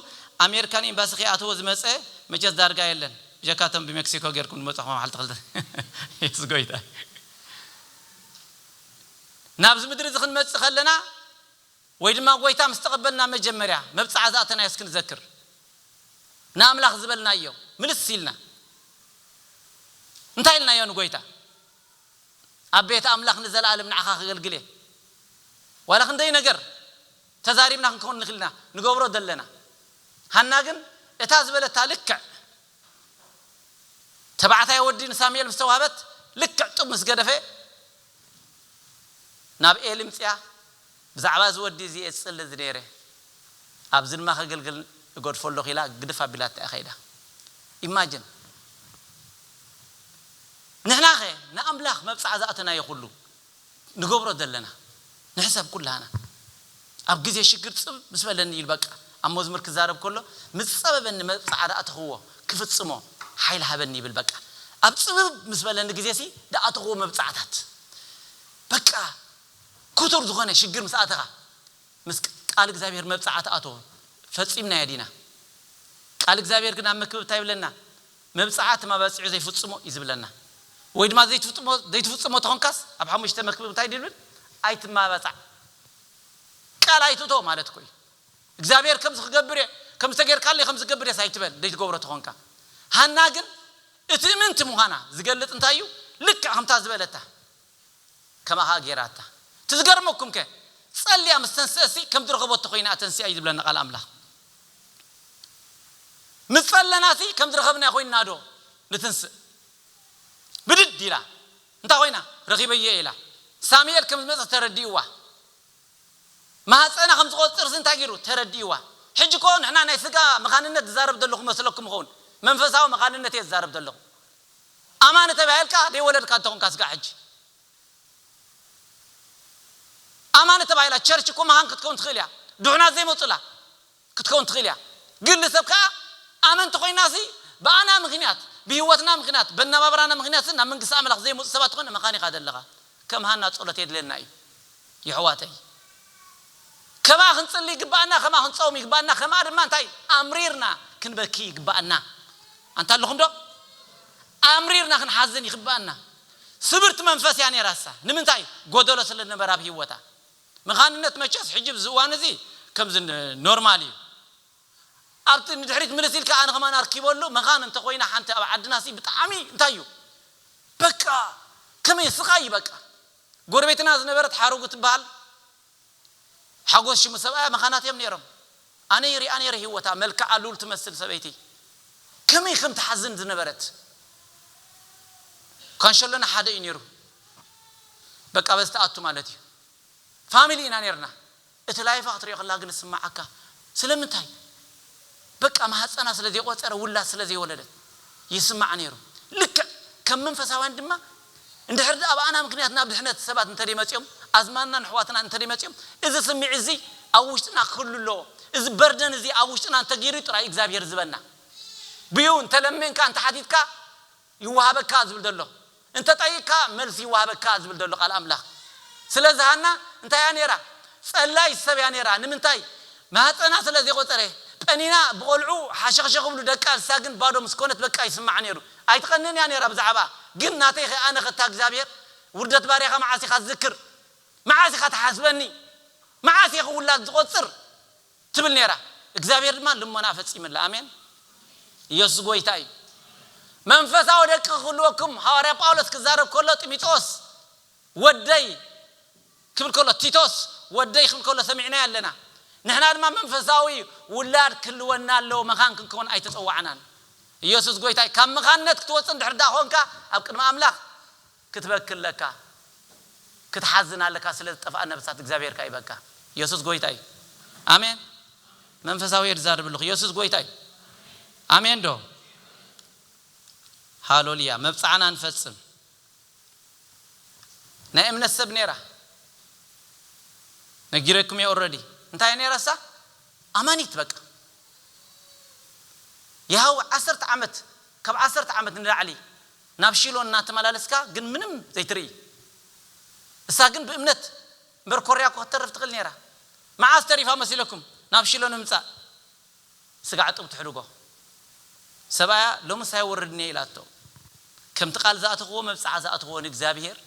ኣሜሪካ ንኤምባሲ ከይኣተወ ዝመጸ መቸስ ዳርጋ የለን፣ ብጀካ እቶም ብሜክሲኮ ጌርኩም ዝመጻኹም ኣማሓልቲ ክልተ ሰብኡት። የሱስ ጐይታ እዩ። ናብዚ ምድሪ እዚ ክንመጽእ ከለና ወይ ድማ ጐይታ ምስ ተቐበልና መጀመርያ መብጽዓ ዝኣተናዮ እስኪ ንዘክር። ንኣምላኽ ዝበልናዮ ምልስ ኢልና እንታይ ኢልናዮ ንጐይታ? ኣብ ቤት ኣምላኽ ንዘለኣለም ንዓኻ ከገልግል እየ። ዋላ ክንደይ ነገር ተዛሪብና ክንከውን ንኽእል ኢና ንገብሮ ዘለና። ሃና ግን እታ ዝበለታ ልክዕ ተባዕታይ ወዲ ንሳሙኤል ምስ ተዋህበት ልክዕ ጡብ ምስ ገደፈ ናብ ኤሊ ምጺኣ ብዛዕባ እዚ ወዲ እዚ እየ ዝጽሊ ነይረ፣ ኣብዚ ድማ ከገልግል እገድፎ ኣለኹ ኢላ ግድፍ ኣቢላታ እያ ከይዳ። Imagine! ንሕናኸ ንኣምላኽ መብጽዓ ዝኣተናዮ ኩሉ ንገብሮ ዘለና? ንሕሰብ ኩላህና። ኣብ ግዜ ሽግር ጽብብ ምስ በለኒ እዩ ኢሉ በቃ ኣብ መዝሙር ክዛረብ ከሎ ምስ ጸበበኒ መብጽዓ ዝኣተኽዎ ክፍጽሞ ሓይሊ ሃበኒ ይብል በቃ ኣብ ጽብብ ምስ በለኒ ግዜሲ ዝኣተኽዎ መብጽዓታት በቃ ክቱር ዝኾነ ሽግር ምስ ኣተኻ ምስ ቃል እግዚኣብሄር መብጽዓ ትኣትዎ ፈጺምናዮ ዲና ቃል እግዚኣብሄር ግን ኣብ መክብብ እንታይ ይብለና መብጽዓ ትም ኣባጺዑ ዘይፍጽሞ እዩ ዝብለና ወይ ድማ ዘይትፍጥሞ ዘይትፍጽሞ ተኾንካስ ኣብ ሓሙሽተ መክብብ እንታይ ድብል ኣይትማባጻዕ ቃል ኣይትእቶ ማለት እኮ እዩ እግዚኣብሄር ከምዚ ክገብር እየ ከምዚ ተጌርካለይ ከምዚ ክገብር እየስ ኣይትበል ዘይትገብሮ ተኾንካ ሃና ግን እትእምንቲ ምዃና ዝገልጽ እንታይ እዩ ልክዕ ከምታ ዝበለታ ከማኻ ጌራታ እቲ ዝገርመኩም ከ ጸልያ ምስ ተንስእሲ ከም ዝረኸቦቶ ኮይና እያ ተንሲኣ እዩ ዝብለና ቃል ኣምላኽ ምስ ጸለናሲ ከም ዝረኸብናዮ ኮይንና ዶ ንትንስእ ብድድ ኢላ እንታይ ኮይና ረኺበዮ እየ ኢላ ሳሙኤል ከም ዝመጸ ተረዲእዋ ማህጸና ከም ዝቆጽርሲ እንታይ ጌሩ ተረዲእዋ ሕጂ እኮ ንሕና ናይ ስጋ መኻንነት ዝዛረብ ዘለኹ መስለኩም ይኸውን መንፈሳዊ መኻንነት እየ ዝዛረብ ዘለኹ ኣማኒ ተባሂልካ ደይወለድካ እንተኾንካ ስጋዕ ሕጂ ኣማኒ ተባሂላ ቸርች እኮ መሃን ክትከውን ትኽእል እያ ድሑናት ዘይመጹላ ክትከውን ትኽእል እያ ግን ልሰብ ከኣ ኣመንቲ ኮይናሲ ብኣና ምኽንያት ብሂወትና ምኽንያት በናባብራና ምኽንያትሲ ናብ መንግስቲ ኣምላኽ ዘይመጹ ሰባት ትኾን መኻን ኢኻ ደለኻ ከም ሃና ጾሎት የድልየና እዩ የሕዋተይ ከምኣ ክንጽሊ ይግብኣና ከምኣ ክንጾም ይግብኣና ከምኣ ድማ እንታይ ኣምሪርና ክንበኪ ይግብኣና። ኣንታ ኣለኹም ዶ? ኣምሪርና ክንሓዝን ይግብኣና። ስብርቲ መንፈስ እያ ነይራሳ። ንምንታይ? ጎደሎ ስለ ዝነበረ ኣብ ሂወታ። መኻንነት መቸስ ሕጂ ኣብዚ እዋን እዚ ከምዚ ኖርማል እዩ። ኣብቲ ንድሕሪት ምልስ ኢልካ ኣነ ከማን ኣርኪበሉ መኻን እንተ ኮይና ሓንቲ ኣብ ዓድና ሲ ብጣዕሚ እንታይ እዩ በቃ ከመይ ስቃይ እዩ በቃ። ጎረቤትና ዝነበረት ሓረጉ ትብሃል። ሓጎስ ሽሙ ሰብኣያ መኻናት እዮም ነይሮም ኣነ ይሪኣ ነይረ ሂወታ መልክዓ ሉል ትመስል ሰበይቲ ከመይ ከም ትሓዝን ዝነበረት ካንሸሎና ሓደ እዩ ነይሩ በቃ በዚ ትኣቱ ማለት እዩ ፋሚሊ ኢና ነይርና እቲ ላይፋ ክትሪኦ ከለካ ግን ዝስመዓካ ስለምንታይ በቃ ማህጸና ስለ ዘይቆጸረ ውላድ ስለ ዘይወለደት ይስማዓ ነይሩ ልክዕ ከም መንፈሳውያን ድማ እንድሕር ደኣ ብኣና ምኽንያት ናብ ድሕነት ሰባት እንተደይ መጺኦም፣ ኣዝማድናን ኣሕዋትናን እንተደይ መጺኦም፣ እዚ ስምዒት እዚ ኣብ ውሽጥና ክህሉ ኣለዎ። እዚ በርደን እዚ ኣብ ውሽጥና እንተገይሩ እዩ ጥራይ እግዚኣብሄር ዝህበና። ብዩ እንተ ለሚንካ እንተ ሓቲትካ ይወሃበካ ዝብል ዘሎ። እንተ ጠይቅካ መልሲ ይወሃበካ ዝብል ዘሎ ቃል ኣምላኽ። ስለዚ ሃና እንታይ እያ ነይራ? ጸላይት ሰብ እያ ነይራ። ንምንታይ? ማህጸና ስለ ዘይቆጸረ። ጰኒና ብቆልዑ ሓሸኽሸኽ ይብሉ ደቃ ንሳ ግን ባዶ ምስ ኮነት በቃ ይስምዓ ነይሩ። ኣይትቀንን እያ ነይራ ብዛዕባ ግን ናተይ ከ ኣነ ከ እታ እግዚኣብሔር ውርደት ባርያካ መዓስ ኢካ ትዝክር መዓስ ኢካ ትሓስበኒ መዓስ እየ ክውላድ ዝቆፅር ትብል ነይራ እግዚኣብሔር ድማ ልሞናኣ ፈፂምላ ኣሜን እየሱስ ጎይታ እዩ መንፈሳዊ ደቂ ክህልወኩም ሃዋርያ ጳውሎስ ክዛረብ ከሎ ጢሚጦስ ወደይ ክብል ከሎ፣ ቲቶስ ወደይ ክብል ከሎ ሰሚዕናዮ ኣለና። ንሕና ድማ መንፈሳዊ ውላድ ክህልወና ኣለዎ፣ መኻን ክንከውን ኣይተጸዋዕናን። ኢየሱስ ጎይታይ ካብ መኻንነት ክትወጽእ እንድሕር ድኣ ኮንካ ኣብ ቅድሚ ኣምላኽ ክትበኪ ኣለካ፣ ክትሓዝን ኣለካ ስለ ዝጠፍኣ ነፍሳት እግዚኣብሔር ካይበካ። ኢየሱስ ጎይታ እዩ። ኣሜን መንፈሳውየ ድዛርብልኹ ኢየሱስ ጎይታ እዩ። ኣሜን ዶ ሃሎልያ መብጽዓና ንፈጽም ናይ እምነት ሰብ ነይራ ነጊረኩም እየ ኦረዲ እንታይ እያ ነይራ እሳ ኣማኒት በቃ የሃወ ዓሰርተ ዓመት ካብ ዓሰርተ ዓመት ንላዕሊ ናብ ሺሎ እናተመላለስካ ግን ምንም ዘይትርኢ እሳ ግን ብእምነት እምበር ኮርያ እኮ ክትተርፍ ትኽእል ነይራ መዓስ ተሪፋ መሲለኩም ናብ ሺሎ ንምምጻእ ስጋዕ ጡብ ትሕድጎ ሰብኣያ ሎምስ ኣይወርድን እየ ኢላቶ። ከምቲ ቃል ዝኣተኽዎ መብጽዓ ዝኣትኽዎ ንእግዚኣብሄር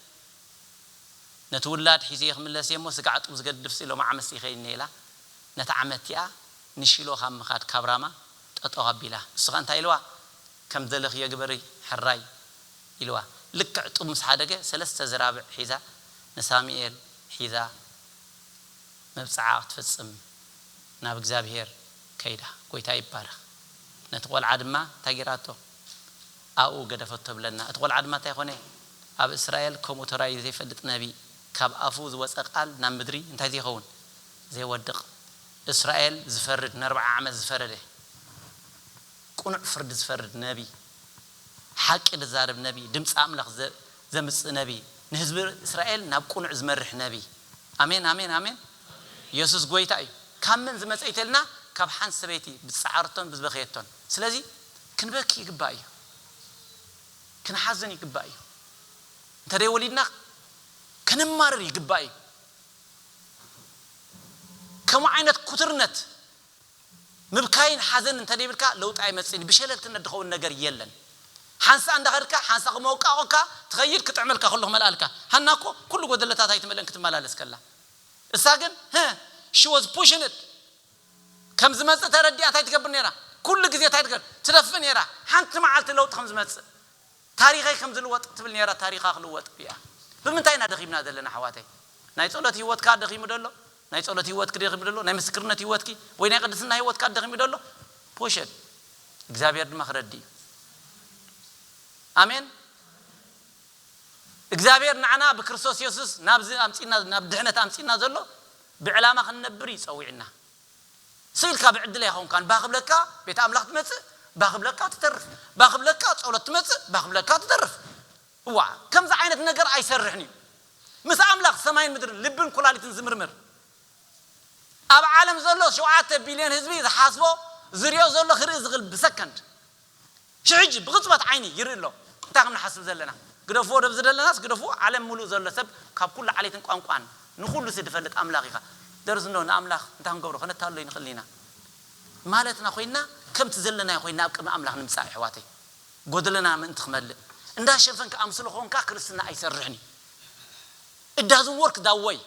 ነቲ ውላድ ሒዘዮ ክምለስ እየ እሞ ስጋዕ ጡብ ዝገድፍሲ ሎሚ ዓመትሲ ይኸይን እየ ኢላ ነታ ዓመት እቲኣ ንሺሎ ካብ ምኻድ ካብ ራማ ጠጠው ኣቢላ። ንሱ ከኣ እንታይ ኢልዋ ከም ዝደለኽዮ ግበሪ ሕራይ ኢልዋ። ልክዕ ጡብ ምስ ሓደገ ሰለስተ ዝራብዕ ሒዛ ንሳሙኤል ሒዛ። መብጽዓ ክትፍጽም ናብ እግዚኣብሄር ከይዳ ጎይታ ይባረክ ነቲ ቆልዓ ድማ እንታይ ጌራቶ ኣብኡ ገደፈቶ ብለና እቲ ቆልዓ ድማ እንታይ ኮነ ኣብ እስራኤል ከምኡ ተራእዩ ዘይፈልጥ ነቢ ካብ ኣፉ ዝወጸ ቃል ናብ ምድሪ እንታይ ዘይከውን ዘይወድቅ እስራኤል ዝፈርድ ነርብዓ ዓመት ዝፈረደ ቅኑዕ ፍርዲ ዝፈርድ ነቢ ሓቂ ድዛረብ ነቢ ድምጺ ኣምላክ ዘምጽእ ነብይ ንህዝቢ እስራኤል ናብ ቁኑዕ ዝመርሕ ነብይ ኣሜን ኣሜን ኣሜን የሱስ ጎይታ እዩ ካብ መን ዝመጸ ኢተልና ካብ ሓንቲ ሰበይቲ ብዝጸዓረቶን ብዝበከየቶን ስለዚ ክንበኪ ይግባእ እዩ ክንሓዝን ይግባእ እዩ እንተደይ ወሊድና ከነማርር ይግባእ እዩ ከምኡ ዓይነት ኩትርነት ምብካይን ሓዘንን እንተደይብልካ ለውጢ ኣይመጽእን እዩ ብሸለልትነት ድኸውን ነገር የለን ሓንሳእ እንዳኸድካ ሓንሳእ ክም ኣውቃቆካ ትኸይድ ክጥዕመልካ ከሎ ክመልኣልካ ሃና እኮ ኩሉ ጎደለታት ኣይትመልእን ክትመላለስ ከላ እሳ ግን ህህ she was pushing it ከም ዝመጽእ ተረዲኣ ታይ ትገብር ነይራ ኩሉ ግዜ ታይ ትገብር ትደፍእ ነይራ ሓንቲ መዓልቲ ለውጢ ከም ዝመጽእ ታሪኸይ ከም ዝልወጥ ትብል ኔራ ታሪኻ ክልወጥ ሪኣ ብምንታይ ኢና ደኺምና ዘለና ኣሕዋተይ ናይ ጸሎት ሂወትካ ደኺሙ ዶ ኣሎ ናይ ጸሎት ሂወትኪ ደኺሙ ዶ ኣሎ ናይ ምስክርነት ሂወትኪ ወይ ናይ ቅድስና ሂወትካ ደኺሙ ዶ ኣሎ ፖሸል እግዚኣብሄር ድማ ክረዲ እዩ ኣሜን እግዚኣብሄር ንዓና ብክርስቶስ የሱስ ናብዚ ኣምጺና ናብ ድሕነት ኣምጺና ዘሎ ብዕላማ ክንነብር እዩ ጸዊዕና ስኢልካ ብዕድል ኣይኾንካን ባህ ክብለካ ቤት ኣምላኽ ትመጽእ ባህ ክብለካ ትተርፍ ባህ ክብለካ ጸሎት ትመጽእ ባህ ክብለካ ትተርፍ እዋ ከምዚ ዓይነት ነገር ኣይሰርሕን እዩ ምስ ኣምላኽ ሰማይን ምድርን ልብን ኩላሊትን ዝምርምር ኣብ ዓለም ዘሎ ሸውዓተ ቢልዮን ህዝቢ ዝሓስቦ ዝሪኦ ዘሎ ክርኢ ዝኽል ብሰከንድ ሽሕጂ ብቅጽበት ዓይኒ ይርኢ ኣሎ እንታይ ከም ንሓስብ ዘለና ግደፍዎ ደብ ዝደለናስ ግደፍዎ ዓለም ምሉእ ዘሎ ሰብ ካብ ኩሉ ዓሌትን ቋንቋን ንኩሉ ሲ ድፈልጥ ኣምላኽ ኢኻ ደርዝ እንዶ ንኣምላኽ እንታይ ክንገብሮ ከነታልሎ ይንኽእል ኢና ማለትና ኮይና ከምቲ ዘለናዮ ኮይና ኣብ ቅድሚ ኣምላኽ ንምጻእ የሕዋተይ ጎደለና ምእንቲ ክመልእ እንዳ ሸፈንካ ኣምስሎ ኮንካ ክርስትና ኣይሰርሕን እዩ it doesn't work that way።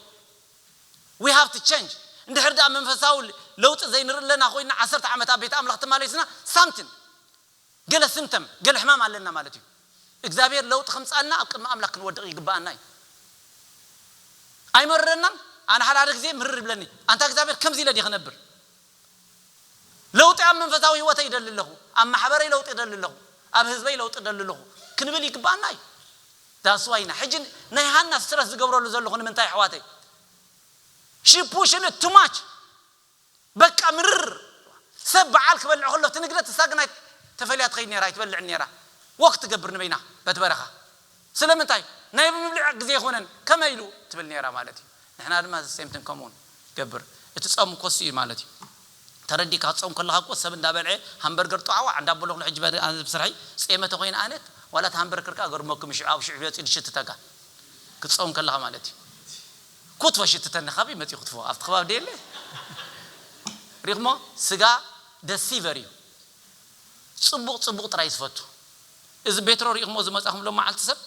We have to change እንድሕር ድኣ መንፈሳዊ ለውጢ ዘይንርእለና ኮይና ዓሰርተ ዓመት ኣብ ቤት ኣምላኽ ተማሊስና something ገለ ስምተም ገለ ሕማም ኣለና ማለት እዩ እግዚኣብሔር ለውጢ ከምጽኣልና ኣብ ቅድሚ ኣምላኽ ክንወድቕ ይግብኣና እዩ ኣይመርረናን ኣነ ሓደ ሓደ ግዜ ምርር ይብለኒ ኣንታ እግዚኣብሔር ከምዚ ኢለ ድየ ክነብር ለውጢ ኣብ መንፈሳዊ ህይወተይ እደሊ ኣለኹ፣ ኣብ ማሕበረይ ለውጢ እደሊ ኣለኹ፣ ኣብ ህዝበይ ለውጢ እደሊ ኣለኹ ክንብል ይግብኣና እዩ። That's why ኢና ሕጂ ናይ ሃና ስትረስ ዝገብረሉ ዘለኹ ንምንታይ ኣሕዋተይ She pushing it too much በቃ ምርር ሰብ በዓል ክበልዕ ከሎ ትንግደት ንሳ ግን ኣይ ተፈልያ ትኸይድ ኔራ ኣይትበልዕን ኔራ Walk ትገብር ንበይና በቲ በረኻ ስለምንታይ ናይ ምብሊዕ ግዜ ኣይኮነን ከመይ ኢሉ ትብል ኔራ ማለት እዩ ንሕና ድማ the same thing ከምኡ ንገብር እቲ ጾም እኮ እሱ እዩ ማለት እዩ ተረዲእካ ክትጾም ከለካ እኮ ሰብ እንዳ በልዐ ሃምበርገር ጧዕዋዕ እንዳ ኣበልኩ ሕጂ ኣነ ብስርሐይ ጼመ ተኮይነ ኣነ ዋላ እቲ ሃምበርክር ከኣ ገርመኩም እዩ ሽዑ ኣብ ሽዑ መጺኡ ድሽትተካ ክትጾም ከለካ ማለት እዩ ኩትፎ ሽትተኒ ካበይ መጺኡ ክትፎ ኣብቲ ከባቢ ደየለ ሪእኩሞ ስጋ ደሲቨር እዩ ጽቡቅ ጽቡቅ ጥራይ ዝፈቱ። እዚ ቤትሮ ሪኢኽሞ ዝመጻኹም ሎማዓልቲ ሰብ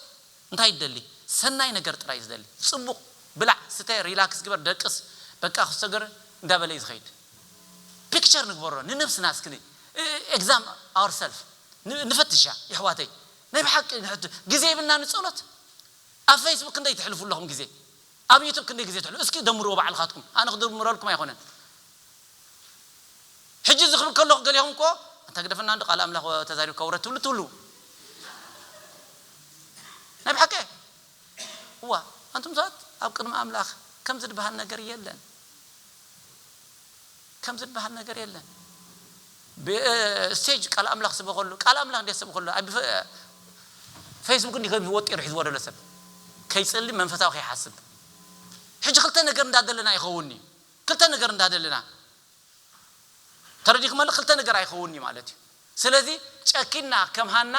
እንታይ ይደሊ ሰናይ ነገር ጥራይ ዝደሊ ጽቡቅ ብላዕ ስተ ሪላክስ ግበር ደቅስ በቃ ክሶገር እንዳበለዩ ዝኸይድ ፒክቸር ንግበሮ ንነብስና እስኪ ን ኤግዛም ኣወር ሰልፍ ንፈትሻ የሕዋተይ ናይ ብሓቂ ንሕቱ ግዜ ይብልና ንጸሎት ኣብ ፈይስቡክ ክንደይ ትሕልፉ ኣለኹም ግዜ ኣብ ዩቱብ ክንደይ ግዜ ትሕልፉ እስኪ ደምርዎ ባዕልኻትኩም ኣነ ክድምረልኩም ኣይኮነን ሕጂ እዚ ክብል ከለኩ ገሊኩም እኮ ኣንታ ግደፈና እንዶ ቃል ኣምላክ ተዛሪብካ ውረድ ትብሉ ትህልዉ ናይ ብሓቂ እየ እዋ ኣንቱም ሰባት ኣብ ቅድሚ ኣምላክ ከምዚ ድበሃል ነገር የለን ከምዚ ድበሃል ነገር የለን ብ ስቴጅ ቃል ኣምላክ ስበከሉ ቃል ኣምላክ እንዴት ሰብከሉ ኣብ ፌስቡክ እንዲ ከም ወጢሩ ሒዝዎ ዘሎ ሰብ ከይጽሊ መንፈሳዊ ከይሓስብ ሕጂ ክልተ ነገር እንዳ ዘለና ይከውን እዩ ክልተ ነገር እንዳ ደለና ተረዲክመኒ ክልተ ነገር ኣይከውን እዩ ማለት እዩ ስለዚ ጨኪና ከም ሃና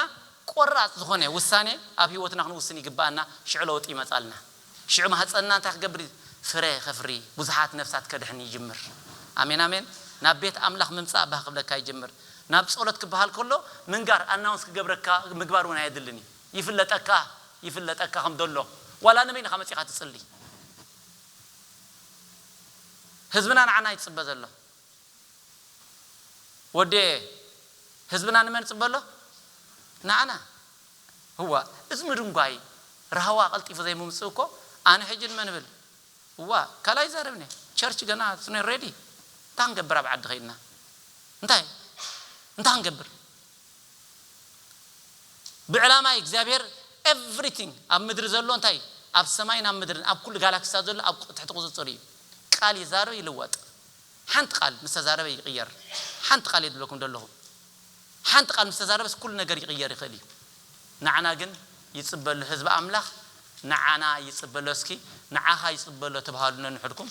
ቆራጽ ዝኮነ ውሳኔ ኣብ ሂወትና ክንውስን ይግበኣና ሽዑ ለውጢ ይመጻልና ሽዑ ማህጸንና እንታይ ክገብር ፍረ ከፍሪ ብዙሓት ነፍሳት ከድሕን ይጅምር ኣሜን ኣሜን ናብ ቤት ኣምላኽ ምምጻእ ባህ ክብለካ ይጅምር ናብ ጾሎት ክበሃል ከሎ ምንጋር ኣናውንስ ክገብረካ ምግባር ውን ኣየድልን እዩ ይፍለጠካ ይፍለጠካ ከም ደሎ ዋላ ንበይንካ መጺኻ ትጽሊ ህዝብና ንዓና እዩ ዝጽበ ዘሎ ወዴ ህዝብና ንመን ይጽበ ኣሎ ንዓና እዋእ እዚ ምድንጓይ ራህዋ ቀልጢፉ ዘይምምጽኡ እኮ ኣነ ሕጂ ንመን እብል እዋእ ካልእ ኣይዛረብን እየ ቸርች ገና it's not ready እንታይ ክንገብር ኣብ ዓዲ ከይድና እንታይ እንታይ ክንገብር ብዕላማ እዩ እግዚኣብሔር everything ኣብ ምድሪ ዘሎ እንታይ እዩ ኣብ ሰማይን ኣብ ምድርን ኣብ ኩሉ ጋላክሲታት ዘሎ ኣብ ትሕቲ ቁፅፅር እዩ ቃል ይዛረብ ይልወጥ ሓንቲ ቃል ምስ ተዛረበ ይቅየር ሓንቲ ቃል እየ ዝብለኩም ዘለኹ ሓንቲ ቃል ምስ ተዛረበስ ኩሉ ነገር ይቅየር ይኽእል እዩ ንዓና ግን ይፅበሎ ህዝቢ ኣምላኽ ንዓና ይፅበሎ እስኪ ንዓኻ ይፅበሎ ተብሃሉ ነንሕድኩም